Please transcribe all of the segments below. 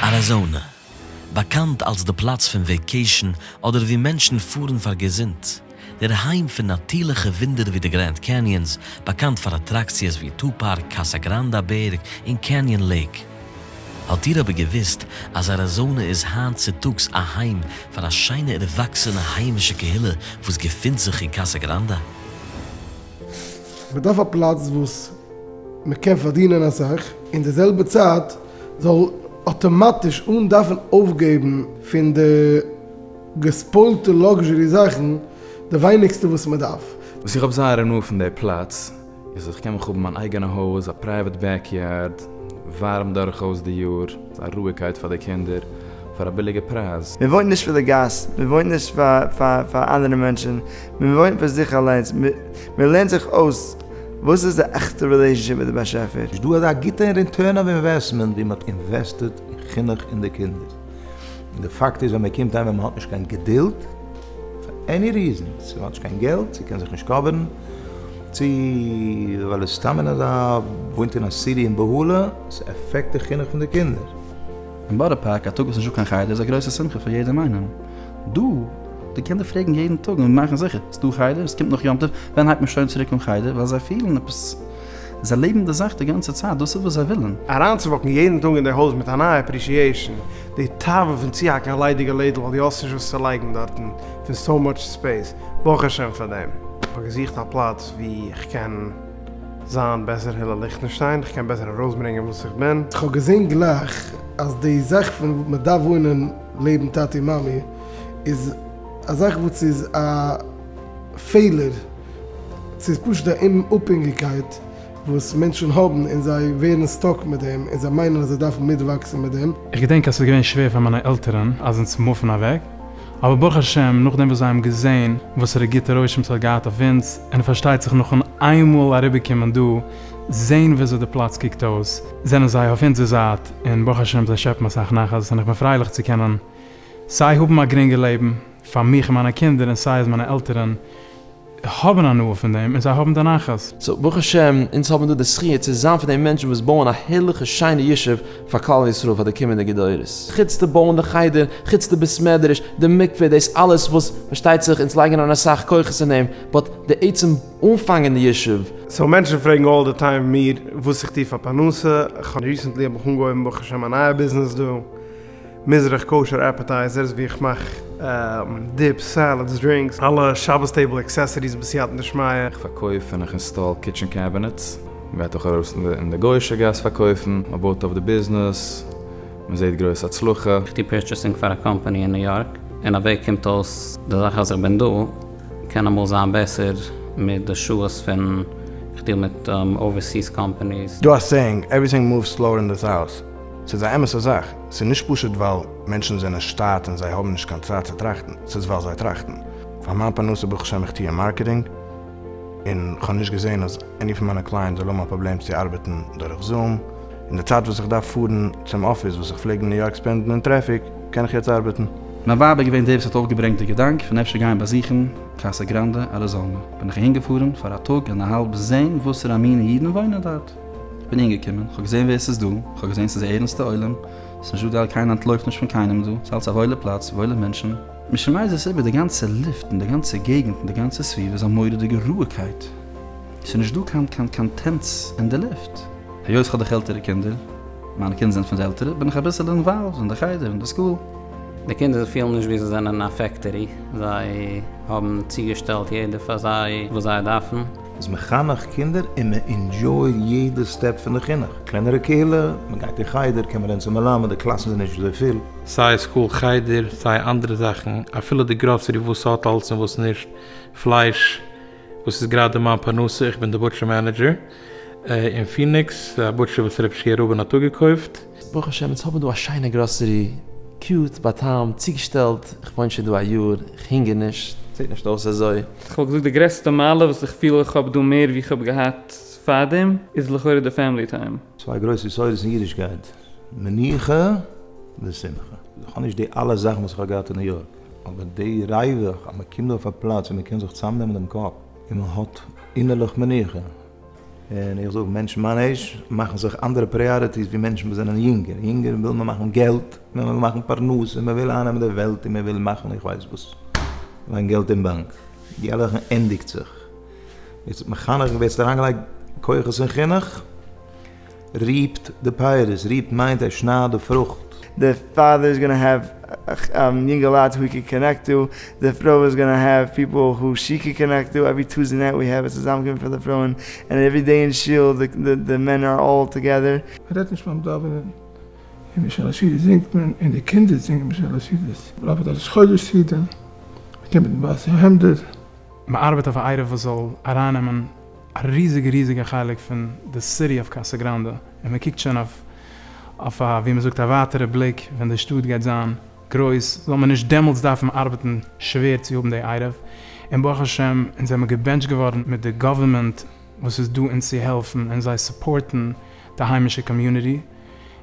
אריזאנע, באקאנט אלס די פלאץ פון וועיקעישן אדער וואו מענטשן פארן פאר געזונט, דער היים פון נאטירליכע וואונדער ווי די גרענד קעניענס, באקאנט פאר אטראקציעס ווי טו פארק, קאסא גראנדא בערג, און קעניען לעיק. האט איר אבער געוואוסט אז אריזאנע איז היינט צוטאגס א היים פאר א שיינע ערוואקסענע היימישע קהילה וואס געפינט זיך אין קאסא גראנדא? מ'דארף א פלאץ וואס מ'קען פארדינען אסאך, אין די זעלבע צייט זאל אטאמאטיש אן דארפן אויפגעבן פון די געספוילטע לאקזשערי זאכן די ווייניגסטע וואס מ'דארף. וואס איך האב זייער הנאה פון די פלאץ איז אז כ'קען מיך האבן מיין אייגענע הויז, א פרייוועט בעקיארד, ווארעם דורכאויס די יאר, א רואיגקייט פאר די קינדער, פאר א ביליגע פרייז. מ'וואוינט נישט פאר די גאס, מ'וואוינט נישט פאר אנדערע מענטשן, מען וואוינט פאר זיך אליינס, מען לערנט זיך אויס וואס איז די עכטע רילעישאנשיפ מיט די באשעפער. איז דא אזא גוטע אין ריטורן אוו אינוועסטמענט ווי מען האט אינוועסטעד אין חינוך אין די קינדער? און די פאקט איז ווען מען קומט אהיים און מען האט נישט קיין געדולד פאר עני ריזען, צו מען האט נישט קיין געלט, צו קען זיך נישט קאווערן, צו ווייל איז סתם אין אזא וואוינט אין א סיטי אין בהלה, ס'עפעקט די חינוך פון די קינדער. אין בארא פארק א טאג וואס נישט דא קיין חדר איז א גרויסע שמחה פאר יעדעם איינעם דא. די קינדער פרעגן יעדן טאג און מאכן זיכער, ס'דא חדר? ס'קומט נאך יום טוב? ווען הייבט מען שוין צוריק אן חדר? ווייל זיי פילן עפעס, זיי לעבן די זאך די גאנצע צייט, דאס איז וואס זיי ווילן. אריינצווואקן יעדן טאג אין די הויז מיט א נייע אפרישיעישן, די תאווה פון צוהאקן א ליידיגע לעדל ווייל דו האסט נישט וואס צו לייגן דארטן פון סאו מאטש ספעיס, ברוך השם פאר דעם. כ'האב געזוכט א פלאץ ווי כ'קען זיין בעסער הילל ליכטענשטיין, כ'קען בעסער ארויסברענגען וואס איך בין. כ'האב געזען גלייך אז די זאך פון מ'דארף וואוינען לעבן טאטי מאמי, איז א זאך וואס איז א פעלער, ס'איז פשוט א אומאפהענגיקייט וואס מענטשן האבן און זיי ווערן סטאק מיט דעם און זיי מיינען אז זיי דארפן מיטוואקסן מיט דעם. איך געדענק אז ס'איז געווען שווער פאר מיינע עלטערן אז אונז מופן אוועק, אבער ברוך השם נאכדעם וואס זיי האבן געזען וואסערע גוטע רושם ס'האט געהאט אויף אונז, און פארשטייט זיך נאכן איינמאל אריבערקומען דא, זען וויאזוי די פלאץ קוקט אויס, זענען זיי אויף אונזער זייט, און ברוך השם זיי שעפן אסאך נחת, און איך בין פרייליך צו קענען. סיי האבן א גרינגע לעבן פאר מיך און מיינע קינדער און סיי אז מיינע עלטערן האבן הנאה פון דעם און זיי האבן די נחת. סאו ברוך השם אונז האבן דא די זכיה צו זיין פון די מענטשן וואס בויען א הערליכע שיינע ישוב פאר כלל ישראל פאר די קומענדיגע דורות, חוץ די בויען די חדר, חוץ די בית מדרש, די מקווה, דאס אלעס וואס פארשטייט זיך אונז לייגן אריין אסאך כוחות אין דעם, באט די עצם אנפאנגען די ישוב. סאו מענטשן פרעגן אלל די טיים מיר וואס איך טו פאר פרנסה, כ'האב ריסענטלי האב איך אנגעהויבן ברוך השם א נייע ביזנעס דא, מזרח כשר עפעטייזערס ווי איך מאך דיפס סעלעדס דרינקס אלע שבת טעיבל עקסעסעריס בסייעתא דשמיא. איך פארקויף און איך אינסטאל קיטשען קעבינעטס. מען גייט אויך ארויס אין די גוישע גאס פארקויפן, מען בויט אויף די ביזנעס, מען זעט גרויס הצלחה. איך טו פורטשעסינג פאר א קאמפאני אין ניו יארק, אין א וועג קומט אויס די זאך אז איך בין דא קען אמאל זיין בעסער מיט די שעות פון איך דיעל מיט אווערסיס קאמפאניס. דא א סעיאינג, עווריטינג מאווס סלאוער אין דיס האוז. ס'איז א אמת'ע זאך, ס'איז נישט פשוט ווייל מענטשן זענען שטאט און זיי האבן נישט קיין צייט צו טראכטן, ס'איז ווייל זיי טראכטן. פאר מיין פרנסה ברוך השם איך טוה אין מארקעטינג, און כ'האב נישט געזען אז עני פון מיינע קלייענט זאל האבן א פראבלעם צו ארבעטן דורך זום, אין די צייט וואס איך דארף פארן צום אפיס וואס איך פלעג אין ניו יארק ספענדן אין טרעפיק, קען איך יעצט ארבעטן. מיין ווייב איז געווען די וואס האט אויפגעברענגט די געדאנק פון אפשר גיין באזוכן קאסא גראנדע אריזאנע, בין איך אהינגעפארן פאר א טאג און א האלב זען וואסערע א מינע אידן וואוינען דארט. כ'בין אנגעקומען, כ'האב געזעהן ווער ס'איז דא, כ'האב געזעהן ס'איז א ערענסטע עולם, ס'איז נישט דא די קיינער אנטלויפט נישט פון קיינעם דא, ס'אלץ א וואוילע פלאץ, וואוילע מענטשן, משמייז עס איבער די גאנצע לופט און די גאנצע געגענט און די גאנצע סביבה איז א מורא'דיגע רוהיגקייט, ס'איז נישט דא קיין קיין קיין טענץ אין די לופט, היות כ'האב דאך עלטערע קינדער, מיינע קינדער זענען פון די עלטערע, בין איך אביסעלע אינוואלווד אין די חדר און די סקול. די קינדער פילן נישט ווי זיי זענען אין א פעקטערי, זיי האבן צוגעשטעלט יעדער פאר זיי וואס זיי דארפן, איז מחנך קינדער און מען אינדזשויט יעדע סטעפ פון די חינוך, קלענערע קהילה, מען גייט אין חדר, קען מען רעדן צום מלמד, די קלאסן זענען נישט אזוי פיל. סיי סקול חדר סיי אנדערע זאכן, אפילו די גראסערי וואס האט אלס און וואס נישט, פלייש וואס איז גראדע מיין פרנסה, איך בין די בוטשער מענעדזשער אין פיניקס, א בוטשער וואס רפש י רבין האט אפגעקויפט. ברוך השם אונז האבן דא א שיינע גראסערי, קיוט, באטעמט, צוגעשטעלט, איך וואוין שוין דא א יאר, איך הונגער נישט, זעט נישט אויס אזוי. כ'וואלט געזאגט די גרעסטע מעלה וואס איך פיל איך האב דא מער ווי כ'האב געהאט פארדעם, איז לכאורה די פעמילי טיים. צוויי גרויסע יסודות אין אידישקייט, מנוחה ושמחה. איך האב נישט די אלע זאכן וואס איך האב געהאט אין ניו יארק, אבער די ריווח אז מען קומט דא אויף א פלאץ ווי מען קען זיך צוזאמנעמען דעם קאפ און מען האט אינערליך מנוחה, און איך זאג מענטשן מיין עיזש מאכן זיך אנדערע פריאריטיס ווי מענטשן וואס זענען יונגער, יונגער וויל מען מאכן געלט, מען וויל מאכן פרנסה, מען וויל אייננעמען די וועלט און מען וויל מאכן איך ווייס וואס, ליין געלט אין באנק, די אלע זאכן ענדיגט זיך, ווערסט מחנך ווערסט אריינגעלייגט כוחות אין חינוך, ריפט די פייערס, ריפט מיינט ער שנייד די פרוכט. די פאדער איז גאנא העוו יונגעלייט הו הי קען קאנעקט טו, די פרוי איז גאנא העוו פיפעל הו שי קען קאנעקט טו, עווערי טוזי נעט וי העוו א צוזאמקומען פון די פרויען, ענד עווערי דעי אין שול די מען אר אלל טאגעדער. מען רעדט נישט ביים דאווענען, אין משל השית זינגט מען, אין די קינדער זינגען משל השית, מען ארבעט א ראש חודש סידור, מען קומט מיט ווייסע העמדער. מען ארבעט אויף א עירוב וואס זאל ארייננעמען. א ריזיגע ריזיגע חלק פון די סיטי אוו קאסא גראנדע, און מען קוקט שוין אויף א ווי מען זאגט א ווייטערע בליק ווען די שטאט גייט זיין גרויס, זאל מען נישט דעמאלטס דארפן ארבעטן שווער צו האבן די עירוב, און ברוך השם אונז זעמיר געבענטשט געווארן מיט די גאווערמענט וואס איז דא אונז צו העלפן און זיי סופארטן די היימישע קאמיוניטי.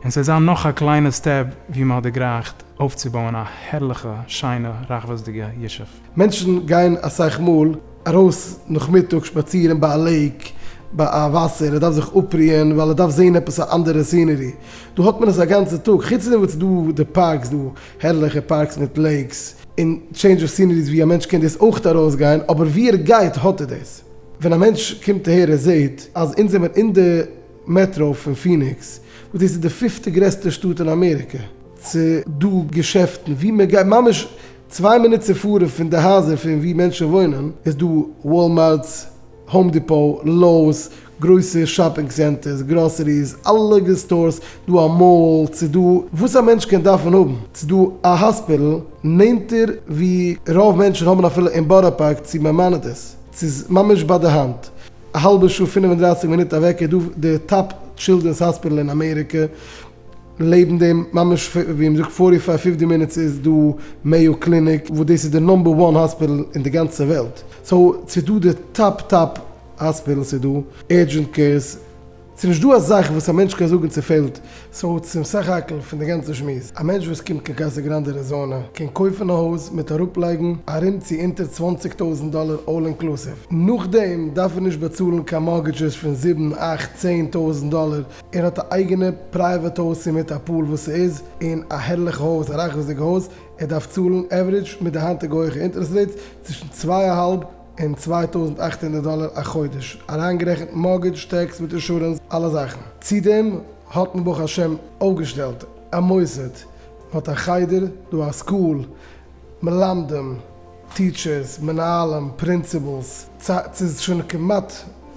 און ס'וועט זיין נאך א קליינע סטעפ ווי מען האט דערגרייכט אויפצובויען א הערליכע שיינע רחבות'דיגע ישוב. מענטשן גייען אסאך מאל ארויס נאכמיטאג שפאצירן ביי א לעיק, ביי א וואסער, ער דארף זיך אפרוען ווייל ער דארף זעהן עפעס א אנדערע סינערי, דא האט מען עס א גאנצע טאג, חוץ פון דעם איז דא די פארקס, דא הערליכע פארקס מיט לעיקס און טשעינדזש אוו סינעריס ווי א מענטש קען דאס אויך ארויס גיין, אבער ווי ער גייט האט ער דאס, ווען א מענטש קומט אהער ער זעהט אז אונז זעמער אין די. מעטראו פון פיניקס, וואס דאס איז די פיפטע גרעסטע שטאט אין אמעריקע. ס'דא געשעפטן וואו מען גייט, ממש צוויי מינוט צו פארן פון די הייזער פון וואו מענטשן וואוינען איז דא וואלמארטס, האום דיפאו, לאוס, גרויסע שאפינג סענטערס, גראסעריס, אלע סטארס, דא א מאל, ס'איז דא וואס א מענטש קען דארפן האבן, ס'איז דא א האספיטל נענטער וואו רוב מענטשן האבן אפילו אין בארא פארק צו מען מיינעט עס, ס'איז ממש ביי די האנט. א האלבע שעה פינף און דרייסיג מינוט אוועק איז דא די טאפ טשילדרענס האספיטעל אין אמעריקע, לעבן דעם ממש ווי מ'זאגט פארטי פייוו פיפטי מינוטס איז דא מעיא קליניק וואס דאס איז די נאמבער וואן האספיטעל אין די גאנצע וועלט, סאו ס'איז דא די טאפ טאפ האספיטעלס איז דא, אורדזשענט קעירס. ס'איז נישט דא א זאך וואס א מענטש קען זאגן ס'פעלט, סאו צום סך הכל פון די גאנצע שמועס, א מענטש וואס קומט קיין קאסא גראנדע אריזאנע קען קויפן א הויז מיט אראפ לייגן ארום צו אונטער צוואַנציק טויזנט דאלער אלל אינקלוסיוו, נאכדעם דארף ער נישט באצאלן קיין מארגעדזשעס פון זיבן, אכט, צען טויזנט דאלער, ער האט א אייגענע פרייוועט הויז צו מיט א פול וואס ס'איז און א הערליכע הויז א רחבות'דיגע הויז, ער דארף צאלן עווערידזש מיט די היינטיגע הויכע אינטערעסט רעיטס צווישן צוויי אהאלב און צוויי טויזנט אַכט הונדערט דאלער א חודש, אריינגערעכנט מארגעדזש, טעקס מיט אינשורענס, אלע זאכן. צו דעם האט מען ברוך השם אויפגעשטעלט א מוסד, מען האט א חדר דא, א סקול, מלמדים, טיטשערס, מנהלים, פרינסיפלס, סא ס'איז שוין כמעט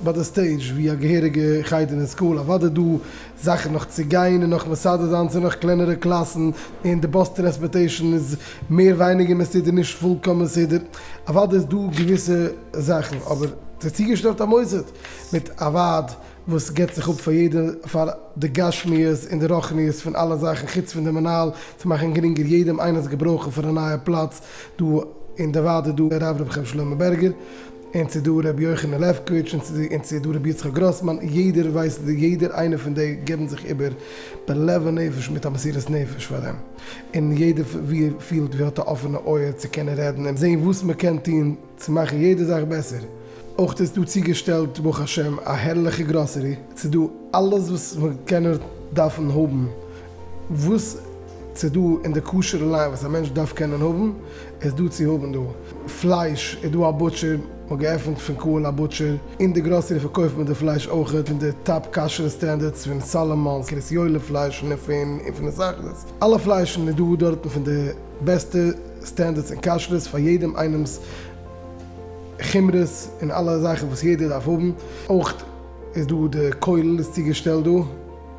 ביי די סטעידזש ווי א געהעריגע חדר אין סקול, אוודאי דא זאכן נאך צו גיין און נאך מסדר זיין צו נאך קלענערע קלאסן, און די באס טרענספארטעישן איז מער ווייניגער מסודר נישט פולקאם מסודר, אוודאי איז דא געוויסע זאכן, אבער ס'איז צוגעשטעלט א מוסד מיט א ועד וואס גיבט זיך אפ פאר יעדע פאר די גשמיות און די רוחניות פון אלע זאכן חוץ פון די מנהל צו מאכן גרינגער יעדעם איינעם'ס געברויכן פון א נייע פלאץ דא אין די ועד איז דא הרב ר' חיים שלמה בערגער. און ס'איז דא ר' יוחנן לעפקאוויטש און ס'איז דא ר' יצחק גראסמאן, יעדער ווייסט יעדער איינער פון די געבן זיך איבער בלב ונפש מיט א מסירת נפש פאר דעם, און יעדער ווי ער פילט ווי ער האט א אפענע אויער צו קענען רעדן און זעהן וואס מען קען טון צו מאכן יעדע זאך בעסער, אויך איז דא צוגעשטעלט ברוך השם א הערליכע גראסערי, ס'איז דא אלעס וואס מען קען נאר דארפן האבן וואס ס'איז דא אין די כשר'ע ליין וואס א מענטש דארף קענען האבן איז דא צו האבן דא. פלייש איז דא א בוטשער, מ'האט געעפנט פון קהל א בוטשער, אין די גראסערי פארקויפט מען די פלייש אויך פון די טאפ כשר'ע סטענדערדס פון סאלאמאנס, קרית יואל'ע פליישן און פון און פון הסאכדעס. אלע פליישן איז דא דארטן פון די בעסטע סטענדערדס און כשר'ס פאר יעדעם איינעמ'ס חומרות און אלע זאכן וואס יעדער דארף האבן. אויך איז דא די כולל איז צוגעשטעלט דא.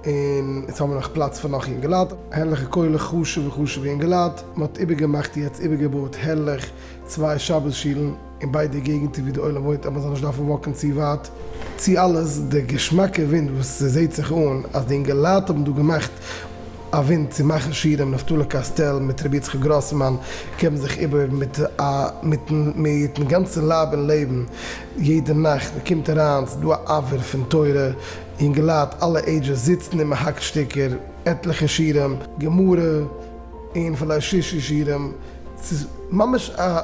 און יעצט האבן מיר נאך פלאץ פאר נאך יונגעלייט. הערליכע קולות, חשובע חשובע יונגעלייט. מען האט איבערגעמאכט יעצט, איבערגעבויעט הערליך, צוויי שבת שולן אין ביידע געגנטער ווי די עולם וואוינט אז מען זאל נישט דארפן וואקן צו ווייט. צו אלעס די געשמאקע ווינט וואס ס'זעהט זיך אן אז די אינגעלייט האבן דא געמאכט א ווינט צו מאכן שירים, נפתלי קאסטעל מיט רבי יצחק גראסמאן געבן זיך איבער מיט א מיטן מיטן גאנצן לייב און לעבן יעדע נאכט, מען קומט אריין ס'דא א אוויר פון תורה. אינגעלייט אלע עידזשעס זיצן און מען האקט שטיקער, עטליכע שירים, גמרא, און פילאי שישי שירים, ס'איז ממש א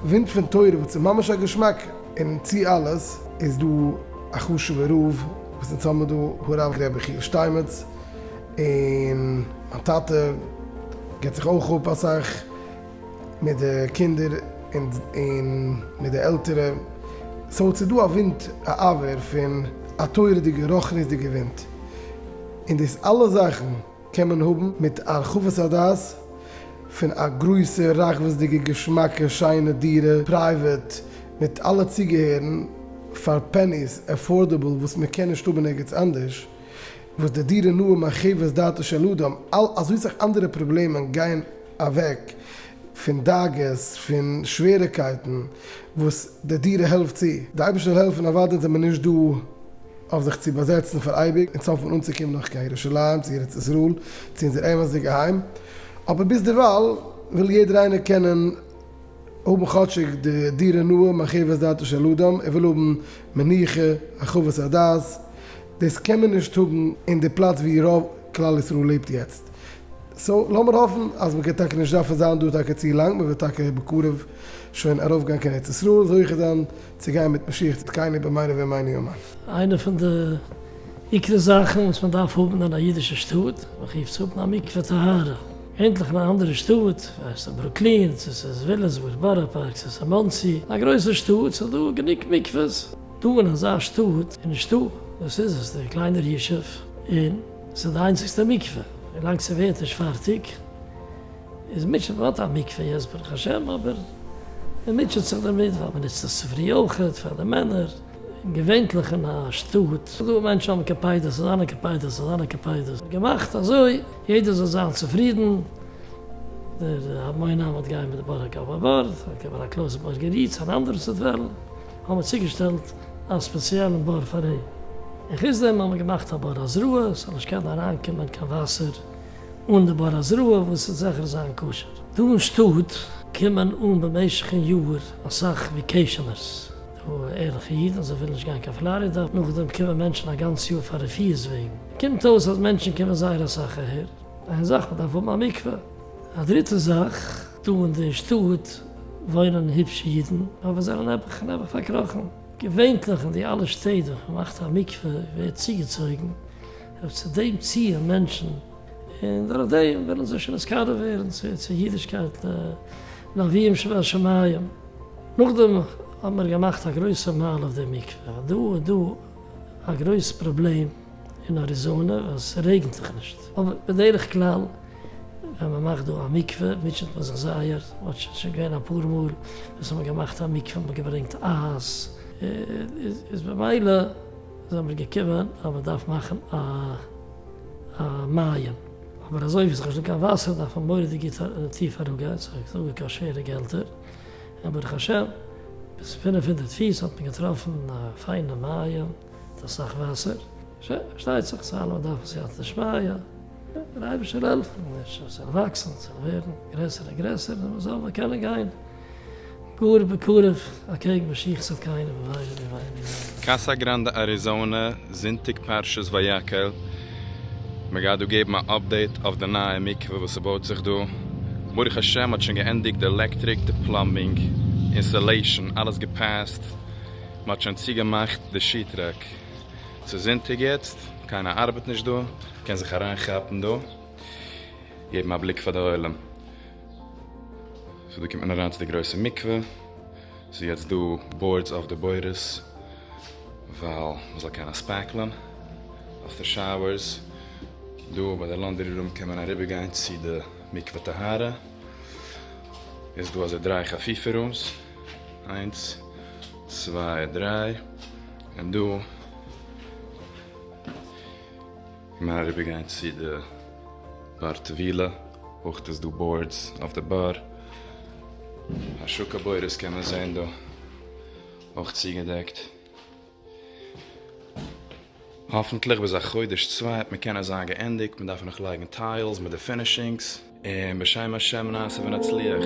ווינט פון תורה וואס איז ממש א געשמאק, און צו אלעס איז דא א חשוב'ער רב וואס אונז האבן דא, הרב ר' יחיאל שטיינמעץ, און מיין טאטע גיבט זיך אויך אפ אסאך. מיט די קינדער און מיט די עלטערע, סאו ס'איז דא א ווינט א אוויר פון א תורה'דיגע רוחניות'דיגע ווינט, און דאס אלע זאכן קען מען האבן מיט הרחבת הדעת פון א גרויסע רחבות'דיגע געשמאקע שיינע דירה, פרייוועט, מיט אלע צוגעהערן פאר פעניס, עפארדעבל, וואס מען קען נישט האבן ערגעץ אנדערש, וואס די דירה נאה מחוות דעתו של אדם, אזוי סאך אנדערע פראבלעמען גייען אוועק פון דאגות, פון שוועריקייטן וואס די דירה העלפט צו. די אייבערשטער העלפן אוודאי זענען מיר נישט דא אויף זיך צו באזעצן פאר אייביג און צאפן אנצוקומען נאך קיין ירושלים צו ארץ ישראל צו אונזער אמת'דיגע היים, אבער ביז דערווייל וויל יעדער איינער קענען האבן כאטשיג די דירה נאה מחוות דעתו של אדם, ער וויל האבן מנוחה, הרחבת הדעת, דאס קען מען נישט האבן אין די פלאץ ווי רוב כלל ישראל לעבט יעצט, סאו לאמיר האפן אז מ'גייט טאקע נישט דארפן זיין דא טאקע צו לאנג, מ'וועט טאקע בקרוב שוין ארויפגיין קיין ארץ ישראל, זוכה זיין צו גיין מיט משיח צדקינו במהרה בימינו אמן. איינע פון די עיקרי זאכן וואס מען דארף האבן אין א אידישע שטאט, מען רופט עס האבן א מקווה טהרה, ענדליך אין א אנדערע שטאט, זיי עס אין ברוקלין, צו עס איז וויליאמסבורג, בארא פארק, צו עס איז מאנסי, א גרויסע שטאט, ס'איז דא גענוג מקווה'ס. דא אין אזא שטאט איז נישטא, וואס איז עס, די קליינער ישוב, און. ס'איז די איינציגסטע מקווה, ווילאנג ס'ווערט נישט פארטיג איז מוטשעט, מען האט א מקווה יעצט ברוך השם אבער מען מוטשעט זיך דערמיט ווייל מען נוצט עס צופרי אויכעט פאר די מענער, און געווענטליך אין א שטאט איז דא מענטשן האבן קעפיידעס אזאנע קעפיידעס אזאנע קעפיידעס איז געמאכט אזוי יעדער זאל זיין צופרידן, דער המון עם האט גייען מיט די בארא גאבא בארד, אקעי פאר א קלויז בארגער איד'ס אן אנדערע סוט וועלן. האבן מיר צוגעשטעלט א ספעציעלן בור פאר אים, און חוץ דעם האבן מיר געמאכט א בור הזרעה ס'זאל נישט קענען אריינקומען קיין וואסער אן די בור הזרעה וואס צו זיכער זיין כשר. דא אין שטאט קומען אן במשך'ן יאר אסאך וועקעישאנערס, די ערליכע אידן אז זיי ווילן נישט גיין קיין פלארידע, נאכדעם קומען מענטשן א גאנץ יאר פאר רפיא'ס וועגן, קומט אויס אז מענטשן קומען זייער אסאך אהער, איין זאך מ'דארף האבן א מקווה. א דריטע זאך, דא אין די שטאט וואוינען היבש אידן אבער זענען נעבעך און נעבעך פארקראכן. געווענטליך אין די אלע שטעט וואו מ'מאכט א מקווה ווערט צוגעצויגן אויף צו דעם ציון מענטשן און דורך דעם ווילן זיי שוין נזכר ווערן צו צו אידישקייט לאביהם שבשמים. נאכדעם האט מען געמאכט א גרויסע מהלך די מקווה. דא איז דא א גרויס פראבלעם. אין אריזאנע ווען ס'רעגנט זיך נישט, אבער בדרך כלל ווען מ'מאכט דא א מקווה מוטשעט מען זיך זייער, אט שוין שוין געווען אפאר מאל וואס האבן געמאכט א מקווה האבן געברענגט אייז איז במילא זעמיר געקומען אז מ'דארף מאכן א א מים, אבער אזוי ווי ס'איז נישט דא קיין וואסער דארף מען מורא'דיג גוט טיף אראפגיין, ס'איז נישט דא קיין שווערע געלטער, און ברוך השם ביז פֿינף הונדערט פיס האט מען געטראפן א פיינע מים. האט אסאך וואסער, פארשטייט זיך סא אלע דארפן סייעתא שמיא, דער אייבערשטער העלפן מיר ס'זאל וואקסן ס'זאל ווערן גרעסער און גרעסער און מ'זאל נאר קענען גיין גאר בקרוב אקעגן משיח'ס אלקינו במהרה בימינו. קאסא גראנדע אריזאנע, זונטאג פרשת ויקהל, מען גייט דא געבן א אפדעיט אויף די נייע מקווה וואס ס'בויט זיך דא, ברוך השם מ'האט שוין געענדיגט די עלעקטריק, די פלאמבינג, אינסטעלעישאן, אלעס געפעסט, מ'האט שוין צוגעמאכט די שי טרעק. ס'איז זונטאג יעצט, קיינער ארבעט נישט דא, מ'קען זיך אריינכאפן דא, געבן א בליק פאר די עולם. סאו דא קומט מען אריין צו די גרויסע מקווה, ס'איז יעצט דא באורדס אויף די בורות, ווייל מ'זאל קענען ספעקלען אויף די שאוערס. דא ביי די לאנדערי רום קען מען אריבערגיין צו די מקווה טהרה, איז דא אזוי דריי חפיפה רומס. איינס צוויי דריי און דא קען מען אריבער גיין צו די באר טבילה אויך איז דא בארדס אויף די באר השקה בורות קען מען זעהן דא אויך צוגעדעקט. האפנטליך ביז א חודש צוויי וועט מען קענען זיין געענדיגט, מען דארף נאך לייגן טיילס מיט די פינישינגס, און בשם השם נעשה ונצליח.